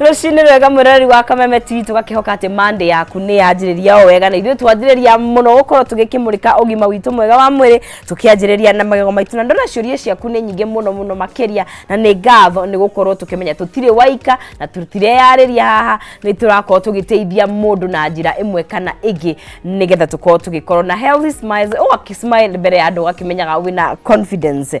rũcinĩ rwega mwĩroreri wa kameme tv tũgakĩhoka atĩ mande yaku nĩ yanjĩrĩria o wega na ithuĩ twanjĩrĩria mũno gũkorwo tũgĩkĩmũrĩka ũgima witũ mwega wa mwĩrĩ tũkĩanjĩrĩria na magego maitũ na ndona ciũria ciaku nĩ nyingĩ mũno mũno makĩria na nĩ ngatho nĩ gũkorwo tũkĩmenya tũtirĩ waika na tũtireyarĩria haha nĩ tũrakorwo tũgĩteithia mũndũ na njĩra ĩmwe kana ĩngĩ nĩgetha tũkorwo tũgĩkorwo na healthy smiles ũgakĩsmile mbere ya andũ ũgakĩmenyaga wĩna confidence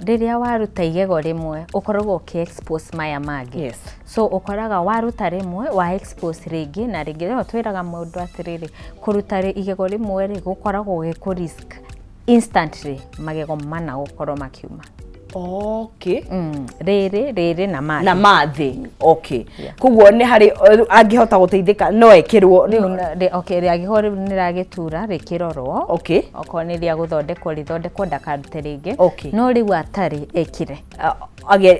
Rĩrĩa waruta igego rĩmwe ũkoragwo ũkĩ expose maya mangĩ. Yes. So ũkoraga waruta rĩmwe wa expose rĩngĩ na rĩngĩ. Rĩu twĩraga mũndũ atĩrĩrĩ, kũruta igego rĩmwe rĩ gũkoragwo gĩ kũ risk instantly magego mana gũkorwo makiuma. Okay. Mm. Rĩrĩ, rĩrĩ na mathĩ. Na mathĩ. Okay. koguo nä harä angä hota gå teithä ka no ekä rwo rä agä ho rä u nä ragä tura rä kä rorwo okorwo nä rä a gå thondekwo rä thondekwo ndakarute rä ngä no rä u atarä ekire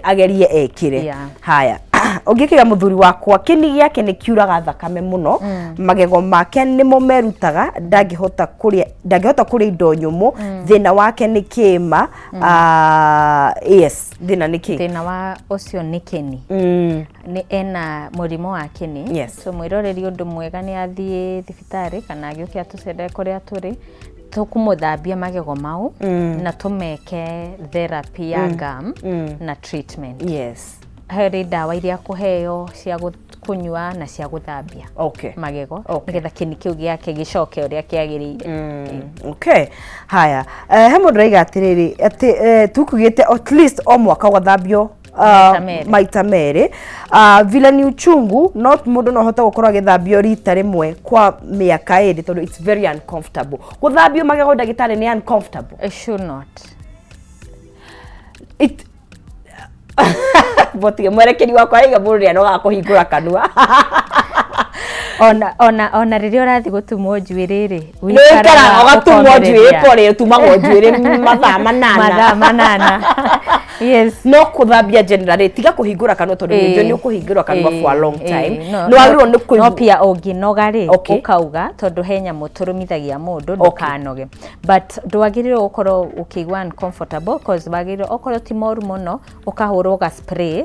agerie ekire haya ũngĩkĩga mũthuri wakwa kĩni gĩake nĩ kiuraga thakame mũno mm. magego make nĩmo merutaga ndangĩhota kũrĩa ndangĩhota kũrĩa indo nyũmũ mm. thĩna wake nĩ kĩma mm. uh, yes thina nä kä thina wa ucio ni kini mm. ni ena murimo wa kini yes. so mwiroreri undu mwega ni athie thibitari kana agiuke atucere kuria turi tukumuthambia magego mau mm. na tumeke therapy ya mm. gum mm. na treatment yes heri ndawa iria kuheo cia kũnyua na cia gũthambia okay. magego okay. nĩgetha kĩni kĩu gĩake gĩcoke ũrĩa kĩagĩrĩire mm. okay. haya uh, he mũndũ raiga atĩrĩrĩ atĩ uh, eh, tukugĩte at least o mwaka ũgathambio Ah, maita merä ah, vila ni uchungu no må ndå no hote gå korwo agä thambio rita rä mwe kwa mä aka ä rä tondå its very uncomfortable gå thambio magego ndagä tarä nä uncomfortable it should not it botige mwerekeri wakwa aiga mũndũ nĩ anoga kũhingũra kanua ona ona ona rä rä a å rathiä gå tumwo njuä rä rä nĩkaraga ũgatumwo njuĩrĩ pore ũtumagwo njuĩrĩ mathaa manana mathaa manana yes no kũthambia generally tiga kũhingũra kanua tondũ Ĩĩ. nĩnjũĩ nĩ ũkũhingũra kanua Ĩĩ, for a long ĩĩ. time No- nĩ wagĩrĩirwo nĩ no kũigua pia ũngĩnoga rĩ Okay. ũkauga tondũ he nyamũ tũrũmithagia mũndũ ndũkanoge but ndwagĩrĩirwo gũkorwo ũkĩigua uncomfortable cause wagĩrĩirwo okorwo ti moru mũno ũkahũrwo ga spray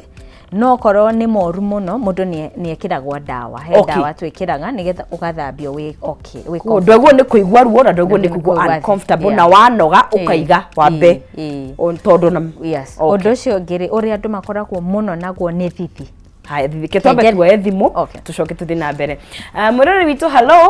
no okorwo nĩ moru mũno mũndũ nĩ ekĩragwo ndawa he okay. ndawa twĩkĩraga nĩgetha ũgathambio wĩ okay wĩ comfortable ndwaguo nĩ kũigua ruo na ndwaguo nĩ kũigua uncomfortable yeah. na wanoga ũkaiga wambe tondũ na yes okay. ũndũ ũcio ũngĩ rĩ ũrĩa andũ makoragwo mũno naguo nĩ thithi haya thithi ke twambe tuoe thimũ okay. tucoke tuthi na mbere uh, ah, mwĩrori witũ hello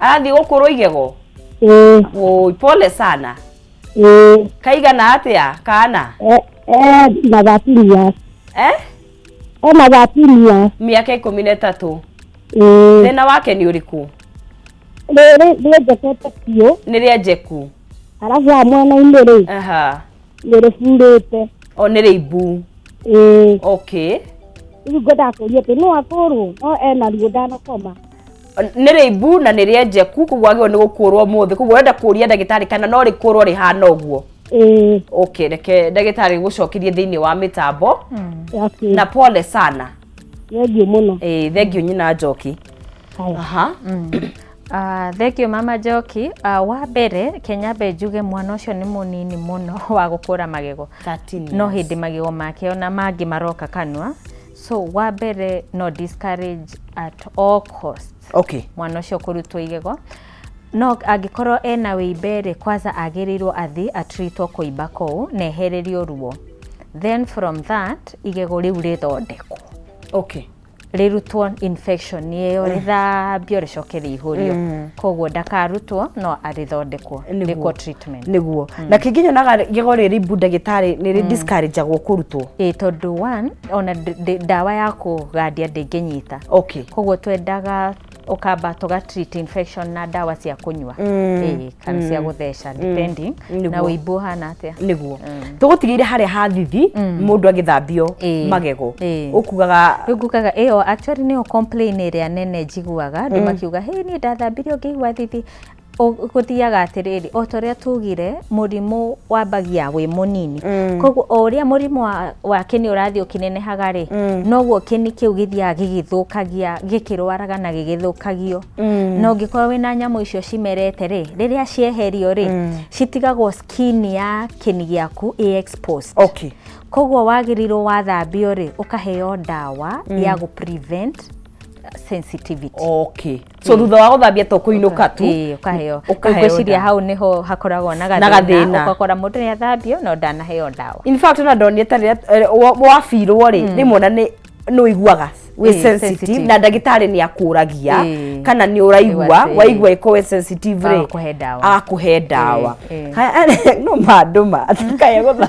arathiĩ gũkũrwo igego ĩĩ Oi, pole sana ĩĩ kaigana atia kana e- e na thirteen years eh? e na thirteen years miaka ikumi na ĩtatũ ĩĩ thĩna wake nĩ ũrĩkũ rĩrĩ rĩenjekete biũ nĩ rĩa njeku arabu wa mwena-inĩ rĩ aha nĩ rĩburĩte o nĩ rĩimbu ĩĩ okay rĩu ngwendaga kũria atĩ no atũrwo no ena ruo ndanakoma nĩ rĩimbu na nĩ rĩenjeku koguo agĩrĩirwo nĩ gũkũrwo mũthĩ koguo ũrenda kũria ndagĩtarĩ kana no rĩkũrwo rĩhana ũguo ĩĩ okay reke ndagĩtarĩ gũcokirie thĩinĩ wa mĩtambo okay na pole sana thengiũ mũno ĩĩ thengiũ nyina njoki Haya. aha Uh, thengio mama njoki uh, wa mbere kenyambe njuge mwana ũcio nĩ mũnini mũno wa gũkũra magego no hĩndĩ magego make ona mangĩ maroka kanua so wa mbere no discourage at all cost okay. mwana ũcio kũrutwo igego no angĩkorwo ena wĩimbe rĩ kwanza agĩrĩirwo athi atritwo kũimba kũu na ehererio ruo then from that igego rĩu rĩthondekwo okay. rĩrutwo infection ĩyo rĩthambio rĩcoke rĩihũrio koguo ndakarutwo no arĩthondekwo Nĩguo. rĩkwo treatment nĩguo na kĩngĩ nyonaga gĩgo rĩrĩ mbu ndagĩtarĩ nĩ rĩ discourageagwo kũrutwo ĩ tondũ one ona ndĩ- ndĩ- ndawa ya kũgandia ndĩngĩnyita okay koguo twendaga ũkamba tũga treat infection na ndawa cia kũnyua Ĩĩ, kana cia gũtheca depending na Nĩguo. ũimbu ũhana atĩa nĩguo tũgũtigĩire harĩa hathithi mũndũ agĩthambio Ĩĩ. magego Ĩĩ. ũkugaga rĩu ngugaga ĩyo actually nĩyo complain ĩrĩa nene njiguaga andũ makiuga hĩ niĩ ndathambirio ngĩigua thithi gũthiaga atĩrĩrĩ o ta ũrĩa tugire mũrimũ wambagia wĩ mũnini mm. koguo o ũrĩa mũrimũ wa kĩni ũrathiĩ ũkĩnenehaga rĩ mm. noguo kĩni kĩu gĩthiaga gĩgĩthũkagia gĩkĩrwaraga na gĩgĩthũkagio mm. na ũngĩkorwo wĩna nyamũ icio cimerete rĩ rĩrĩa cieherio rĩ citigagwo skin ya kĩni gĩaku ĩ exposed okay. koguo wagĩrĩirwo wathambio rĩ ũkaheo ndawa ya gũ prevent sensitivity okay so thutha wa guthambia to kuinuka tu ii ukaheo Ũkaheo ngwiciria ndawa. hau niho hakoragwo na gathina. gathina ukakora mundu ni athambio no ndanaheo ndawa in fact ona ndonire ta rĩrĩa wabirwo rĩ rĩmwe na nĩ nĩ ũiguaga wĩ Ĩĩ, sensitive sensitive. na ndagĩtarĩ nĩ akũragia Ĩĩ. kana nĩ ũraigua Ĩgwa atĩ- waigua ĩko wĩ sensitive rĩ Agakũhe ndawa. agakũhe ndawa Ĩĩ, ĩĩ. Haya, no mandũ ma kae gũtha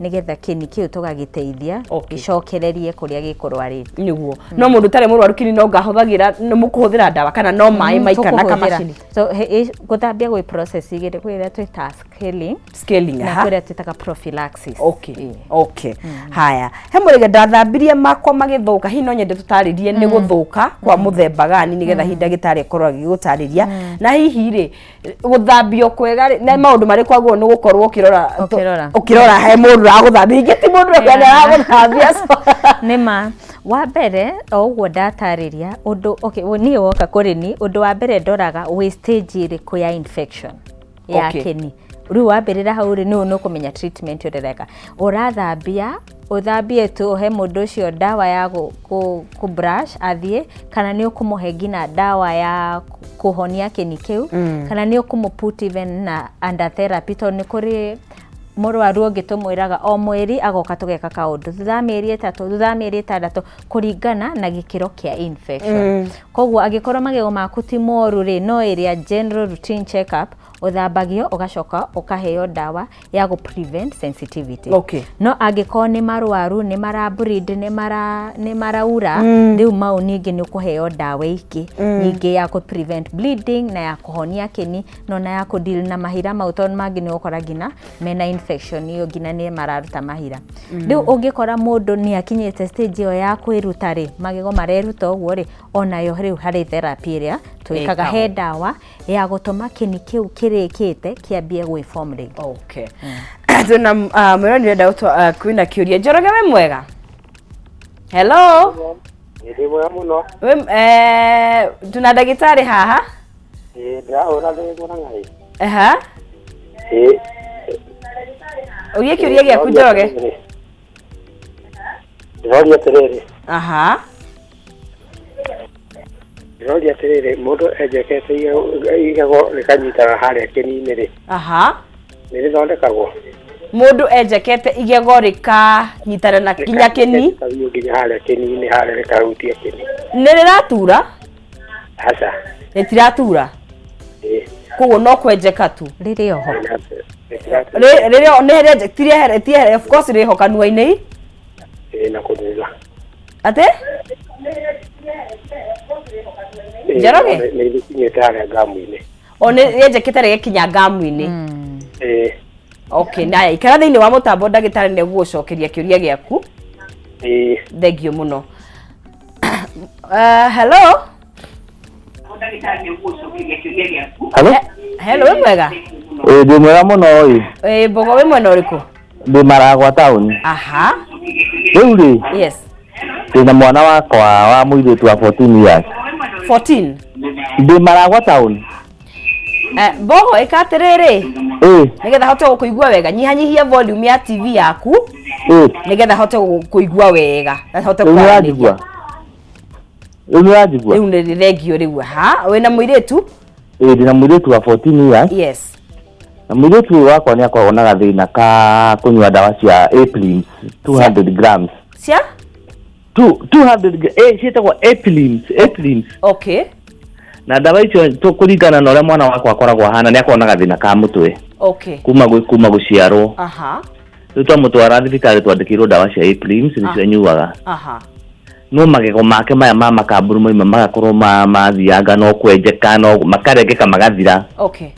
nĩgetha kĩni kĩu tũgagĩteithia okay. gĩcokererie kũrĩa gĩkũrwarĩte nĩguo mm. no mũndũ ũtarĩ mũrwaru kĩni no ngahũthagĩra nĩ mũkũhũthĩra ndawa kana no maĩ mm, maika na kamacini so gũthambia gwĩ process igĩrĩ kwĩ ĩrĩa twĩta scaling scaling na kwĩ ĩrĩa twĩtaga prophylaxis okay yeah. okay mm. haya he mũrĩge ndathambirie makwa magĩthũka hihi no nyende tũtarĩrie nĩ mm. gũthũka kwa mm. mũthemba gani nĩgetha hihi ndagĩtarĩ akorwo agĩgũtarĩria na hihi rĩ guthambio kwega rĩ na maundu mari kwaguo ni gukorwo ukirora Ũkĩrora. ukirora he mundu raguthambia ingi ti mundu Yeah. kwenda raguthambia nä ma wa mbere o ũguo ndatarĩria ũndũ okay, wo- niĩ woka kũrĩ ni ũndũ wa mbere ndoraga wĩ stage ĩrĩkũ ya infection ya Okay. okay. kĩni rĩu wambĩrĩra hau rĩ nĩũ nĩũkũmenya treatment ũrereka ũrathambia Ũthambie tu ũhe mũndũ ũcio ndawa ya kũ brush athiĩ, kana nĩ ũkũmũhe nginya ndawa ya kũhonia kĩni kĩu, kana nĩ ũkũmũ put even na under therapy tondũ nĩ kũrĩ mũrwaru ũngĩ tũmwĩraga o mweri agoka tũgeka kaũndũ, thutha wa mĩeri ĩtatũ, thutha wa mĩeri ĩtandatũ, kũringana na gĩkĩro kĩa infection. Koguo angĩkorwo magego maku ti moru rĩ, no area general routine check up, ũthambagio ũgacoka ũkaheo ndawa. ya gũ prevent sensitivity Okay. no angĩkorwo nĩ marwaru nĩ mara breed nĩ mara nĩ maraura rĩu mau ningĩ nĩ ũkũheo ndawa ingĩ nyingĩ ya kũ prevent bleeding na ya kũhonia kĩni no na ya kũ deal na mahira mau tondũ mangĩ nĩ ũgũkora nginya mena infection iyo nginya nĩ mararuta mahira rĩu ũngĩkora mũndũ nĩ akinyĩte stage ĩyo ya kwĩruta rĩ magego mareruta ũguo rĩ onayo rĩu harĩ therapy ĩrĩa twĩkaga Ĩkagwo. he ndawa ya gũtũma kĩni kĩu kĩrĩkĩte kĩambie gwĩ form rĩngĩ okay twina mwĩra nĩ renda gũtwa kwina kĩũria njoroge we mwega hello Ndĩ mwega mũno. we eh, tuna ndagĩtarĩ haha Ĩĩ, Ndĩrahũra thĩ mũrang'a ĩ. aha Ĩĩ. ũgie kĩũria gĩaku njoroge ndĩroria atĩrĩrĩ aha ndĩroria atĩrĩrĩ mũndũ enjekete igego- igego rĩkanyitaga harĩa kĩni-inĩ rĩ aha nĩ rĩthondekagwo mũndũ enjekete igego rĩkanyitana na kinya kĩni Rĩkaguo nginya harĩa kĩni-inĩ harĩa rĩkahutia kĩni nĩ rĩratura aca ĩtiratura ĩ koguo no kwenjeka tu rĩrĩ oho ĩtiratura Rĩ- rĩrĩa nĩ rĩenje- ti rĩehere- ti rĩehere- of course rĩho kanua-inĩ ĩ na kũthutha atĩ Njoroge? nĩ ikinyĩte harĩa ngamu-inĩ o nĩ rĩenjekete rĩgĩkinya ngamu-inĩ ĩ okay naya ikara thĩinĩ wa mũtambo ndagĩtarĩ nĩ gũgũcokeria kĩũria gĩaku ĩ thengio mũno Uh, hello Halo? Eh, hello wĩ mwega Ĩĩ ndĩ mwega mũno ĩ. Ĩ, mbogo wĩ mwena ũrĩkũ Ndĩ maragwa taũni. aha Rĩu rĩ, yes ndĩna mwana wakwa wa mũirĩtu wa 14 years. 14 Ndĩ maragwa taũni. Eh, mbogo ĩka atĩrĩrĩ Eh, nĩgetha hote gũkũigua wega nyihanyihia volume ya tv yaku eh, nĩgetha hote gũkũigua wega na hote rĩu kwaranĩria nĩranjigua rĩu nĩranjigua rĩu nĩ thengio rĩu ha wĩna mũirĩtu Eh, ndĩna mũirĩtu wa 14 years yes na mũirĩtu ũyũ wakwa nĩ akoragwo na gathĩna ka kũnyua ndawa cia aprins 200 grams cia Two- 200 gra- eh, ciĩtagwo eplins eplins okay na ndawa icio tũ- kũringana na ũrĩa mwana wakwa akoragwo ahana nĩ akoragwo na gathĩna ka mũtwe okay kuma gwĩ- kuma gũciarwo aha rĩu twamũtwara thibitarĩ twandĩkĩirwo ndawa cia eplins Ah. nĩcio anyuaga aha no magego make maya ma makamburu maima magakorwo ma- mathianga no kwenjeka no makarengeka magathira okay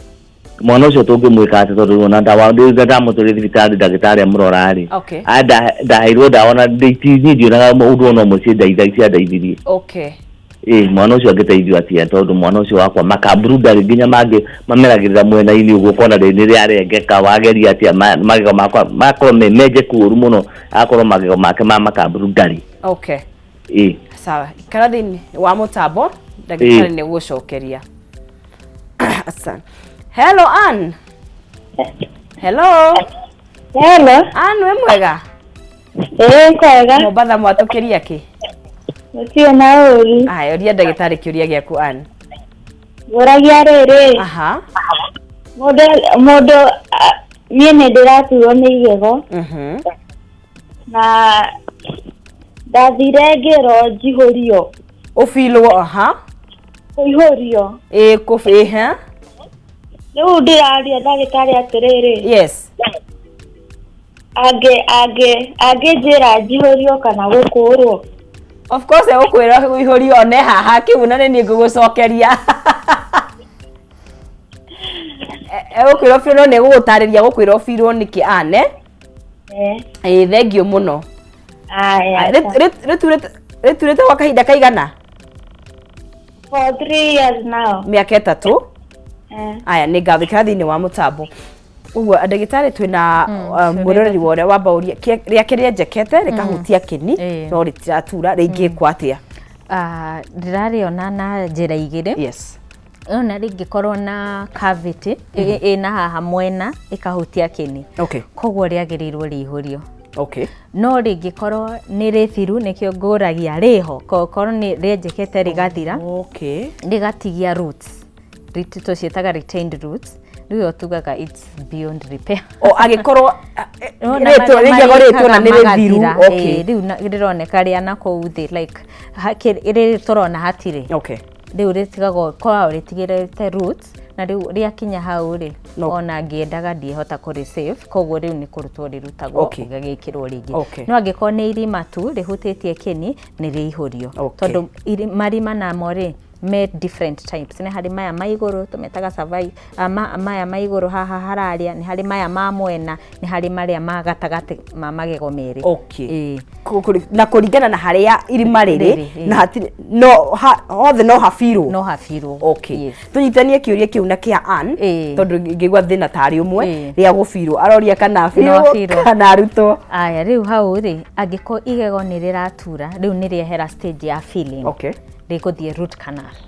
mwana ũcio tũngĩmwĩka atĩ tondũ ona ndawa ndĩruga ndamũtũrĩ thibitarĩ ndagĩtarĩ amũrora-rĩ okay a nda- ndaheirwo ndawa ona ndĩtithi ndionaga ũndũ ona ũmwe ciendaitha ciandaithirie okay ĩ mwana ũcio angĩteithio atĩa tondũ mwana ũcio wakwa makamburu ndarĩ nginya mangĩ mameragĩrĩra mwena-inĩ ũguo ũkona rĩ nĩ rĩarengeka wageria atĩa ma- magego makwa makorwo me menjeku ũru mũno agakorwo magego make ma makamburu ndarĩ okay ĩ sawa ikara thĩinĩ wa mũtambo ndagĩtarĩ nĩ gũcokeria Asan. hello Ann hello Hello. Ann wĩ mwega Ĩĩ kwega. Mombasa mwatũkĩria kĩ Gũtirĩ na ũru. aya ũria ndagĩtarĩ kĩũria gĩaku Ann Ngũragia rĩrĩ. aha Mũndũ mũndũ a- niĩ nĩ ndĩraturwo nĩ igego. mhm na ndathire ngĩrwo njihũrio ũbirwo aha kũihũrio ĩ kũbĩ ha rĩu ndĩraria ndagĩtarĩ atĩrĩrĩ yes angĩ angĩ angĩnjĩra njihũrio kana gũkũũrwo of course egũkwĩra ũihũrio one haha kĩu na nĩ niĩ ngũgũcokeria E- egũkwĩra ũbirwo no nĩ egũgũtarĩria egũkwĩra ũbirwo nĩkĩ ane ä thengio må no rä turä te gwa kahinda kaigana mä aka ätatå aya nä ngawä kä ra thä inä wa må tambo uguo ndagĩtarĩ twĩna mm, uh, mwĩroreri wa ũrĩa wamba ũria rĩake rĩa njekete mm. rĩkahutia kĩni no rĩtiratura rĩngĩkwo mm. atĩa ah, ndĩrarĩona na njĩra igĩrĩ Ona rĩngĩkorwo na cavity ĩ- ĩna haha mwena ĩkahutia kĩni Okay. koguo rĩagĩrĩirwo rĩihũrio Okay. no rĩngĩkorwo nĩ rĩthiru nĩkĩo ngũragia rĩho ko- korwo nĩ rĩenjekete rĩgathira Okay. rĩgatigia roots Rit- tũciĩtaga retained roots nĩyo tugaga it's beyond repair O agĩkorwo No, na rĩtwa marĩa rĩigagwo rĩtwa na marĩkaga nĩ rĩthiru. magathira, Okay. ĩĩ, rĩu na- rĩroneka rĩa na kũu thĩ like ha- kĩ- rĩrĩ tũrona hatirĩ Okay. Rĩu rĩtigagwo, koragwo rĩtigĩrĩte root, na rĩu rĩakinya hau rĩ, No. ona ngĩendaga ndingĩhota kũrĩ save, koguo rĩu nĩ kũrutwo rĩrutagwo Okay. rĩgagĩkĩrwo rĩngĩ. Okay. No angĩkorwo nĩ irima tu rĩhutĩtie kĩni, nĩ rĩihũrio. Okay. Tondũ iri- marima namo rĩ, me different types. Nĩ harĩ maya ma igũrũ tũmetaga cervi- Maya ma igũrũ haha hararĩa nĩ harĩ maya ma mwena, nĩ harĩ marĩa ma gatagatĩ ma magego merĩ. Okay. Na kũringana na harĩa irima rĩrĩ, na hatirĩ, no hothe no ha fill wo? No ha fill wo. Okay. Tũnyitithanie kĩũria kĩu na kĩa Ann, tondũ ngĩigua thĩna ta arĩ ũmwe, rĩa gũ fill wo. Aroria kana a fill wo kana arutwo. Aya, rĩu hau rĩ, angĩkorwo igego nĩ rĩratura, rĩu nĩ rĩehera stage ya filling. Okay. Rĩgũthiĩ root canal.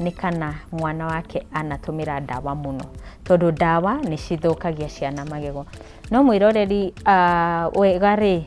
nĩ kana mwana wake anatũmĩra ndawa mũno, tondũ ndawa nĩ cithũkagia ciana magego. No mwĩroreri wega rĩ,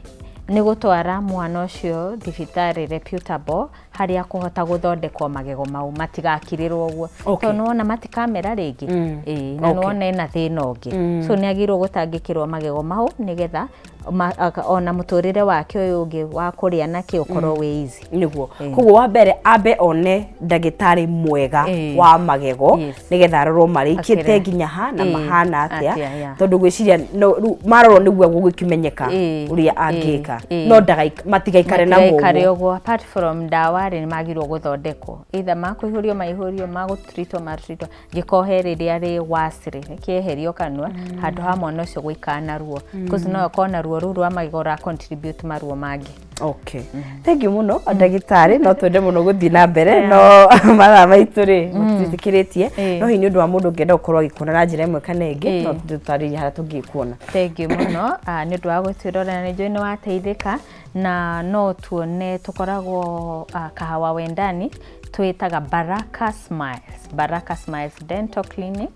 nĩ gũtwara mwana ũcio thibitarĩ reputable harĩa akũhota gũthondekwo magego mau matigakirĩrwo ũguo, tondũ nĩ wona matikamera rĩngĩ, ĩĩ na nĩ wona ena thĩna ũngĩ, so nĩ agĩrĩirwo gũtangĩkĩrwo magego mau nĩgetha ma- aka- ona mũtũrĩre wake ũyũ ũngĩ wa kũrĩa nake ũkorwo wĩ easy niguo Eh. koguo wa mbere ambe one ndagĩtarĩ mwega Eh. wa magego Yes. nĩgetha arorwo marĩkĩte Akĩre. nginya ha na Eh, mahana atĩa, atĩa yeah. tondũ gwĩciria no- rĩu marorwo nĩguo gũgĩkĩmenyeka Eh, ũrĩa eh, angĩka eh. no ndagaik- matigaikare na Matigaikare mũguo ũguo apart from ndawa rĩ nĩ magĩrĩirwo gũthondekwo either makũihũrio maihũrio magũtritwo matritwo gĩkohe rĩrĩa rĩ worse rĩ kĩeherio kanua handũ ha mwana ũcio gũikara na ruo cause no akorwo na ruo rũu rwa magego ũra contribute maruo mangĩ okay thengiũ mũno ndagĩtarĩ no twende mũno gũthiĩ na mbere no mathaa maitũ rĩ matitikĩrĩtie Eh. no hihi nĩ ũndũ wa mũndũ ũngĩenda gũkorwo agĩkuona na njĩra ĩmwe kana ĩngĩ Eh. no tũtarĩrie harĩa tũngĩkuona thengiũ mũno ah, nĩ ũndũ wa gwĩtwĩrorera nĩ njũĩ nĩ wateithĩka Na no tuone tũkoragwo ah, Kahawa Wendani twĩtaga Baraka Smiles, Baraka Smiles Dental Clinic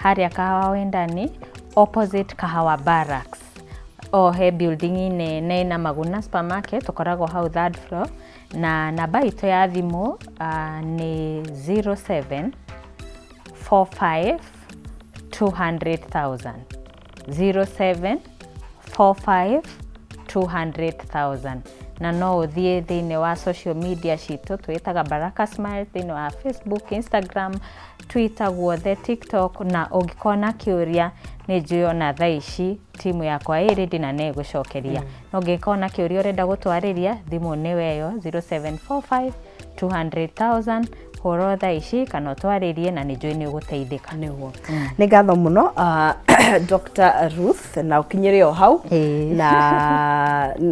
harĩa Kahawa Wendani opposite Kahawa Barracks o he building inĩ nĩ na Maguna Supermarket tũkoragwo hau third floor na namba itũ ya thimũ ah, nĩ 07 45 200,000 0745 200,000 na no ũthiĩ thĩinĩ wa social media citũ twĩtaga Baraka Smile thĩinĩ wa Facebook, Instagram, Twitter guothe, TikTok na ũngĩkorwo na kĩũria nĩ njũĩ ona thaa ici timu yakwa ĩ ready na nĩ ĩgũcokeria no ũngĩkorwo na kĩũria ũrenda gũtwarĩria thimũ nĩ weyo 0745 200,000 horo thaa ici kana ũtwarĩrie na nĩ njũĩ nĩ ũgũteithĩka nĩguo nĩ ngatho mũno ah, Dr. Ruth na ũkinyĩre o hau Ĩĩ. na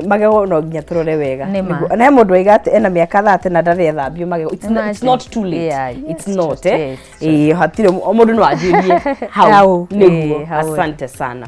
magego no nginya tũrore wega Nĩ ma. Nĩguo- na he mũndũ waiga atĩ ena mĩaka thate na ndarĩ ethambio magego It's not- it's Imagine. not too late Yeah, yes, it's not just- eh yes, Ĩĩ, hatirĩ o mũndũ no anjĩrie hau Hau, nĩguo ĩĩ, hau. asante sana